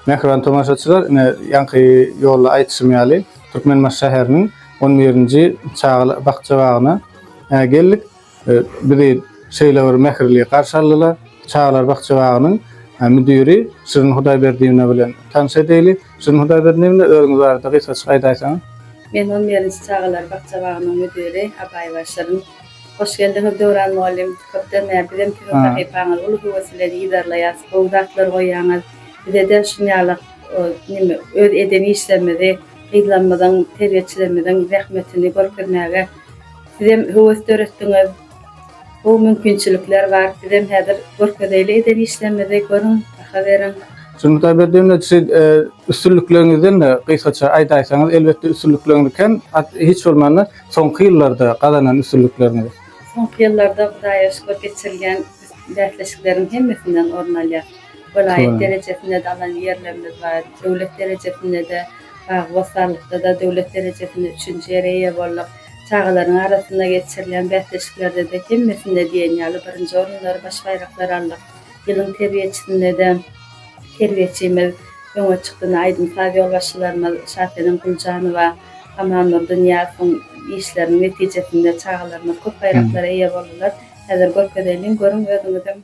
Mähriban tomaşaçylar, ine ýaňky ýolda aýtşym ýaly, Türkmenbaşy şäheriniň 11-nji çagalar bakja bagyna geldik. Bizi şeýle bir mähirli garşy aldylar. Çagalar bakja-bagynyň müdiri Şirin Hudaýberdiýewna bilen tanyş edeýli. Şirin Hudaýberdiýewna, özüňiz barada gysgaçyk aýdaýsaňyz? Men on birinji çagalar bakja-bagynyň müdiri Abaýewa Şirin. Hoş geldiňiz, Döwran mugallym! Köpden bäri bizem siziň sahypaňyzy uly höwes bilen yzarlaýarys. Gowy zatlar goýýaňyz. Bize-de şuň ýaly neme, öz eden işlerimizi, gyzlarymyzyň, terbiýeçilerimiziň zähmetini görkezmäge, Sizem höwes döretdiňiz. Bu mümkinçilikler bar. Sizem häzir görkezeýli eden işlerimizi görüň, baha beriň. Sürmütaý Berdiýewa siz üstünlikleriňizden-de gysgaça aýdaýsaňyz, elbetde üstünlikleriňiz kem, at hiç bolmanda soňky ýyllarda gazanan üstünlikleriňiz. Soňky ýyllarda Hudaýa şükür geçirilýän bäsleşikleriň hemmesinden orun alýar. Welaýat derejesinde-de alan ýerlerimiz bar, döwlet derejesinde-de, bagy-bossanlykda-da döwlet derejesinde üçünji ýere eýe bolduk. Çagalaryň arasynda geçirilýän bäsleşiklerde-de hemmesinde diýen ýaly birinji orunlary, baş baýraklary aldyk. Ýylyň terbiýeçisinde-de terbiýeçimiz öňe çykdy. Ine, aýdym-saz ýolbaşçylarymyz Şasenem Güljanowa, Amanmurdy Nyýazowyň işleriniň netijesinde çagalarymyz köp baýraklara eýe boldular. Häzir görkezäýlin görüň özüňizem.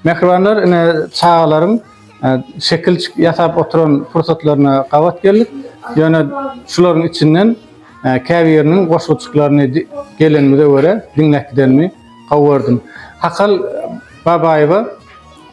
Mähribanlar ine çagalaryň e, şekil ýasap oturan pursatlaryna gabat geldik. Ýöne şularyň içinden e, käbiriniň goşguçyklaryny gelenimize görä diňläp gidenimi gowy gördüm. Hakal Babaýewa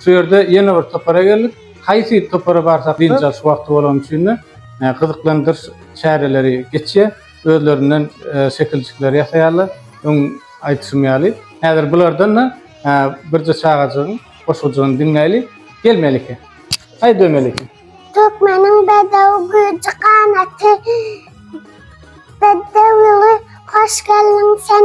Şu ýerde ýene bir topara geldik. Haýsy topara barsak-da, dynç alyş wagty bolany üçin-de, gyzyklandyryş çäreleri geçýär. Özlerinden şekiljikleri ýasaýarlar. Öň aýdyşym ýaly, häzir bulardan-da birje çagajygyň goşgujagyny diňläýli. Gel, Melike. Haýda, Melike. Türkmeniň bedew güýji ganaty, bedew ýyly, hoş geldiň sen.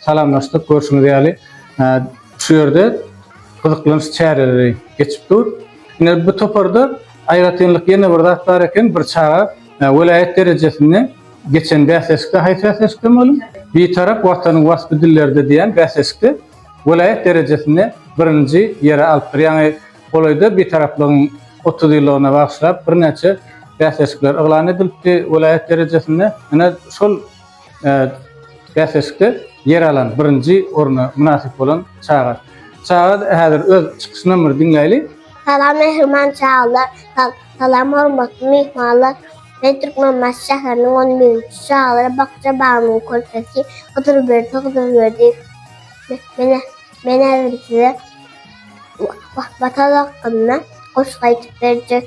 Salamlaşdyk, görşüňiz ýaly, şu ýerde gyzyklanç çäreleri geçip dur. Ine, bu toparda aýratynlyk ýene bir zat bar eken, bir çaga welaýat derejesinde geçen bäsleşikde, haýsy bäsleşikde mugallym? Bitarap Watanyň waspy dillerde diýen bäsleşikde welaýat derejesinde birinji ýeri alypdyr. Ýaňy golaýda Bitaraplygyň otuz ýyllygyna bagyşlap birnäçe bäsleşikler yglan edilipdi welaýat derejesinde. Ine, şol Bäsleşikde ýer alan birinji orna mynasyp bolan çaga. Çaga häzir öz çykyşynam bir diňläýli. Salam mähriban çagalar. Salam hormatly myhmanlar. Men Türkmenbaşy şäheriniň on birinji çagalar bakja bagynyň körpesi Hydyrberdi Hydyrberdiýew. Men häzir size Watan hakynda goşgy aýdyp berjek.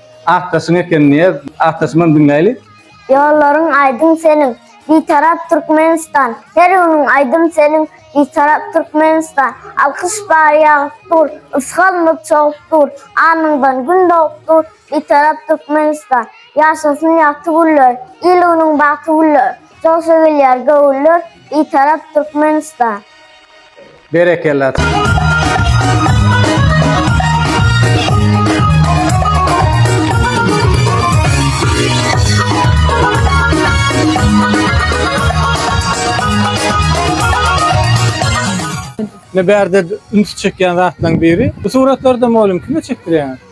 Akdaşyň eken Nyýaz. Akdaşymam diňläýli. Ýollaryň aýdyň seniň, Bitarap Türkmenistan, Her günüň aýdym seniň, Bitarap Türkmenistan, Alkyş bar ýagyp dur, Ysgalmyk çogup dur, Alnyňdan gün dogup dur, Bitarap Türkmenistan, Ýaşasyn ýagty günler, Il-günüň bagty güller, Joşa gelýär göwünler, Bitarap Türkmenistan. Berekella. Ne bärde üns çekýän zatlaryň biri. Bu suratlarda mugallym kime çekdirýäňiz?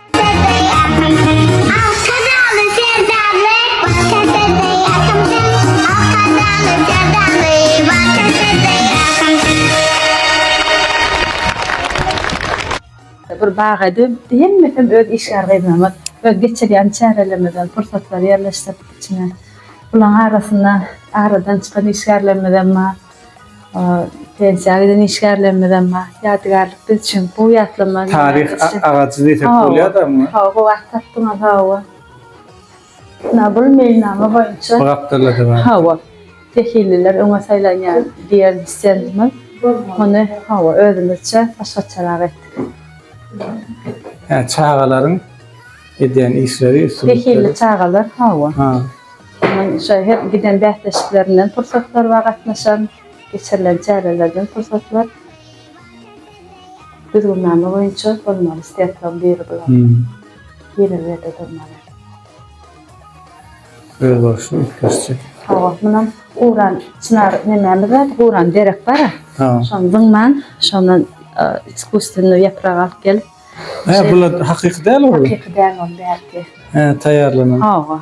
bir baga dönüpdi. Hemme hem öz işgär gyzlarymyz öz geçirýän çärelerimizden pursatlary ýerleşdirdik içine. Bularyň arasynda aradan çykan işgärlerimiz hem bar. Pensiýa giden işgärlerimizem bar. Ýadygärlik biz üçin bu ýatlama. Taryh agajy diýsek bolýar-da muňa. Hawa, bu at tapdyňyz, hawa. Ýa bul meýilnama boýunça. Bu gapdalda-da bar. Hawa. Sehilliler öňe saýlanýar diýen stendimiz. Muny, hawa, özümizçe başgaçarak etdik. Hä, çagalaryň edýän işleri, üstünlikleri. Sehilli çagalar, hawa. Onuň şo her giden bäsleşiklerinden pursatlar we gatnaşan, geçirilen çärelerden pursatlar düzgünnama boýunça bolmaly stendlaryň biri bular. Gireli ýerde durmaly. Özboluşly üýtgeşje. Hawa, munam guran çynar nemämiz bar, guran derek bar-a. Şony zyňman, şondan iskusstwennýu ýaprak alyp gelip, Hä, bular hakyky däl ol. Hakyky däl ol bärki. Hä, taýýarlanan. Hawa.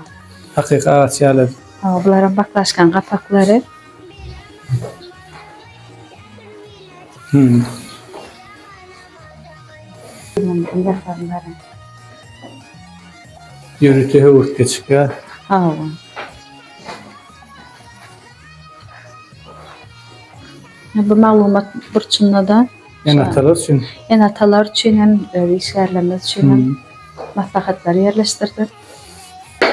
Hakyky agaç ýaly. Hawa, bularam baklaşkan gapaklary. Hmm. Ýörite höwürtge çykýar. Hawa. Bu maglumat burçunda da Ene-atalar üçin. Ene-atalar üçin hem, öz işgärlerimiz üçin hem maslahatlary ýerleşdirdik.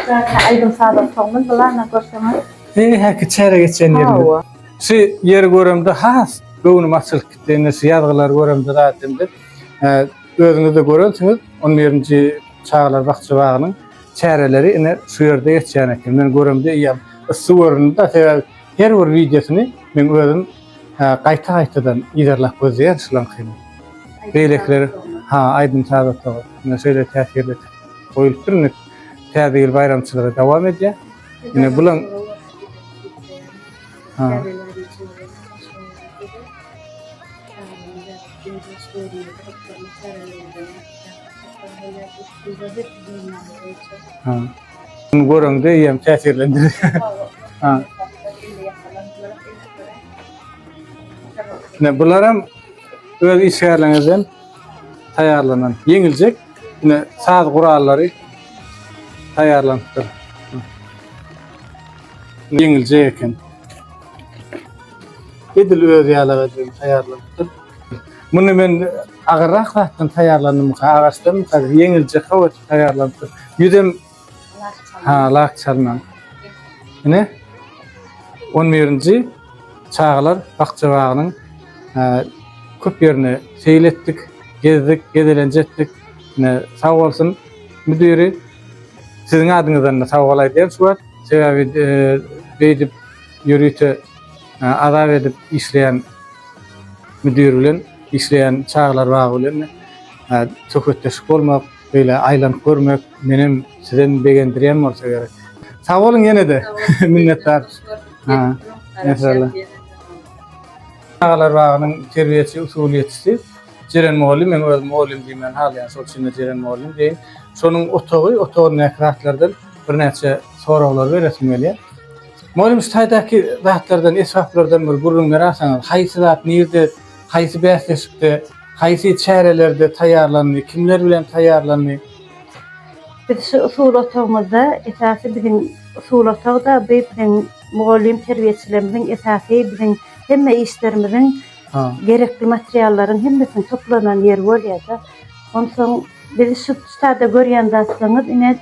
Käte aýdym-saz otagymyz bu ana görseňiz. Eý, häki çäre geçýän ýerimiz. Hawa. Şu ýeri göremde has göwnüm açylyp gitdi. Indi şu ýazgylary göremde zat edemde, özüňiz-de görensiňiz, on birinji çagalar bakja bagynyň çäreleri ine şu ýerde geçýän eken. Men göremde eýýäm yssy göründi-de, sebäbi Her bir wideosyny men özüm gaýta gaýtadan yzarlap gözleýän şulaňkyny. Beýlekiler ha aýdym saz otagy ine şeýle täsirli goýulupdyr indi täze ýyl baýramçylygy dowam edýär. Ine bulaň Ha. Ha. Bunu görende eýem täsirlendi. Ha. Ne bular hem öz işgärlerinden taýýarlanan ýeňiljek ne saz gurallary taýýarlanypdyr. Ýeňiljek eken. Edil öz ýaly edip taýýarlanypdyr. Muny men Agyrrak zatdan taýýarlandymyka, agaçdanmyka, ýeňilje hawaça taýýarlanypdyr. Ýüzem ha, lak çalnan. Ine, on birinji çagalar bakja bagynyň köp ýerine seýil etdik, gezdik, gezelenç etdik. Ine, sag bolsun müdiri. Siziň adyňyzdan-da sag bol aýdýan şu wagt. Sebäbi beýdip ýörite azap edip işleýän müdir bilen Işleýän çagalar bagy bilen söhbetdeşlik bolmak, beýle aýlanyp görmek menem sizem begendirýän bolsa gerek. Sag boluň ýene-de. Minnetdar. Maşallah. Çagalar bagynyň terbiýeçi, usulyýetçisi Jeren mugallym. Meň özüm mugallym diýmegini halaýan, şol üçin-de Jeren mugallym diýen. Şonuň otagy, otagyndaky zatlardan birnäçe soraglar beresim gelýär. Mugallym şu taýdaky zatlardan, esbaplardan bir gürrüň beraýsaňyz, haýsy zat nirde Haýsy bäsleşikde, haýsy çärelerde taýýarlandy, kimler bilen taýýarlandy? Biz şu usul otagymyzda, esasy biziň usul otagda bi biziň mugallym terbiýeçilerimiziň esasy biziň hemme işlerimiziň gerekli materiallaryň hemmesiniň toplanan ýeri bolýar-da. Onsoň biz şu sada görýän zatlaryňyz ine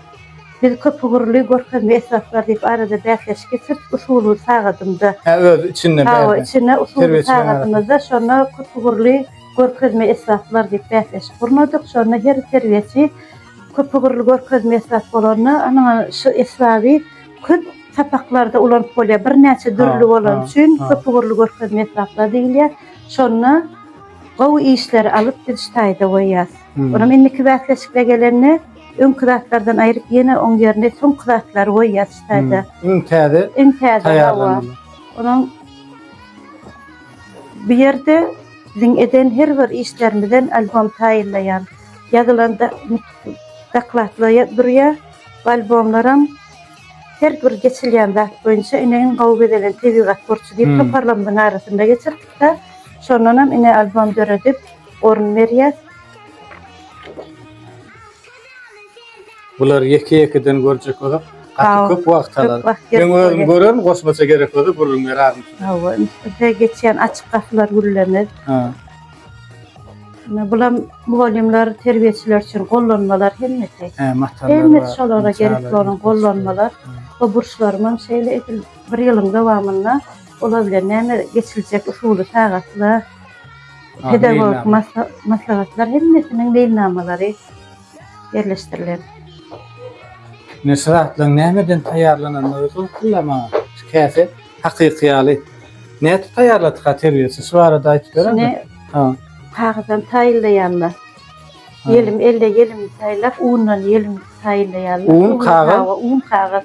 Biz köpugurly görkezme esbaplar diýip arada bäsleşigi sürt usuly sagadymda. Hä öz içinde bärde. Hawa içinde usuly sagadymyzda şonda köpugurly görkezme esbaplar diýip bäsleşik gurnadyk. Şonda her terbiýeçi köpugurly görkezme esbap bolanda anaňa şu esbaby köp sapaklarda ulanyp bolýar. Birnäçe dürli bolany üçin köpugurly görkezme esbaplar diýilýär. Şonda gowy işleri alyp biz şu taýda goýýas. Onam indiki bäsleşikle gelende Öňki zatlardan aýryp ýene oň ýerine soňky zatlary goýýas şu taýda. Iň täze. Iň täze taýýarlanylan. Onuň bu ýerde biziň eden her bir işlerimizden albom taýýarlaýan. Ýazylanda dokladlar durýar. Albomlaram her bir geçilýän zat boýunça ine iň gowy bezelen tebigat burçy diýip toparlarymyzyň arasynda geçirdik-de, şondanam ine albom döredip orun berýäs. Bular ýeke ýekeden görjek bolsak gaty köp wagt alar. Men özüm görerin goşmaça gerek bolsa gürrüň beraryn. Hawa, üstüne geçýän açyk gapylar gürlemez. Ha. Bulam mugallymlar, terbiýeçiler üçin gollanmalar hemmesi. He, matallar. Hemmesi şolara gerek bolan gollanmalar. Bu burçlarym hem şeýle edil bir ýylyň dowamynda olar bilen näme geçiljek usuly sagatlar. Pedagogik maslahatlar hemmesiniň meýilnamalary ýerleşdirilen. Neşir zatlaryň nämeden taýýarlanandygy soň-soňlar maňa käte hakyky ýaly. Nädip taýýarladyka terbiýeçi? Şu barada aýdyp berermi? Ha. Kagyzdan taýýarlaýarlar. Ýelim, elde ýelim taýýarlap, undan ýelim taýýarlaýarlar. Un, kagyz. Un, kagyz.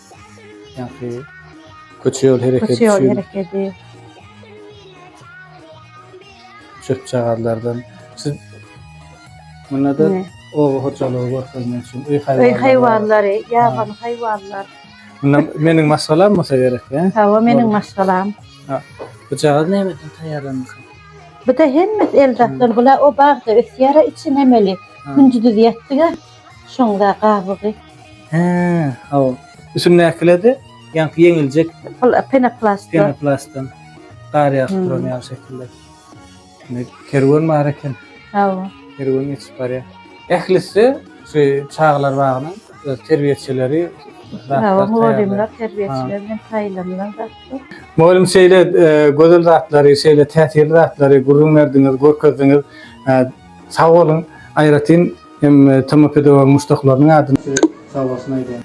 Ýagny köçe ýol hereketi üçin. Köçe ýol hereketi. Çöp-çagazlardan. Siz munda-da oba hojalygy görkezmek üçin öý haýwanlary. Öý haýwanlary, ýabany haýwanlar. Munda meniň maşgalam bolsa gerek, hä? Hawa, meniň maşgalam. Ha. Bu jagaz nämeden taýýarlanýar? Bu da hemmesi el zatlar. Bular o bagda ösýär, içi nemeli. Künjüdiz ýetdik. Şonda gabygy. Hä, haw. Üstündäkilerde ýaňky ýeňiljek. Penoplast. Penoplastdan gar ýagyp duran ýaly şekilde. Indi kerwen bar eken. Hawa. Kerwen geçip barýar. Ählisi şu çagalar bagynyň öz terbiýeçileri. Hawa, mugallymlar, terbiýeçiler bilen saýlanylan zatlar. Mugallym şeýle gözel zatlary, şeýle täsirli zatlary gürrüň berdiňiz, görkezdiňiz. Sag boluň. Aýratyn. Hem TM pedagogyň muşdaklarynyň adynda sag bolsun aýdýan.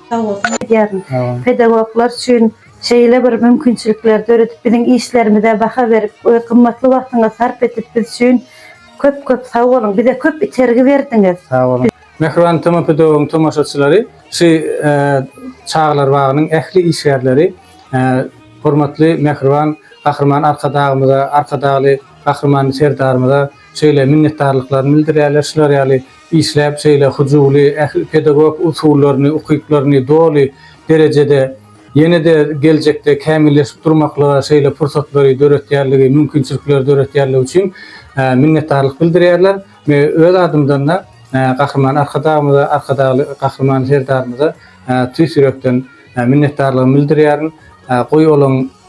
Sag bolsun aýdýaryn. Pedagoglar üçin şeýle bir mümkinçilikleri döredip biziň işlerimize baha berip we gymmatly wagtyňyzy sarp edip biz üçin köp köp sag boluň. Bize köp itergi berdiňiz. Sag boluň. Mähriban TM pedagogyň tomaşaçylary şu çagalar bagynyň ähli işgärleri hormatly Mähriban Gahryman Arkadagymyza Arkadagly Gahryman Serdarymyza şeýle minnetdarlyklaryny bildirýärler, şular ýaly işläp şeýle hyjuwly ähli pedagog usullaryny, ukyplaryny doly derejede ýene-de geljekde kämilleşip durmaklyga şeýle pursatlary döretýänligi, mümkinçilikleri döretýänligi üçin minnetdarlyk bildirýärler we öz adymdan-da Gahryman Arkadagymyza, Arkadagly Gahryman Serdarymyza tüýs ýürekden minnetdarlygymy bildirýärin. Goý olaň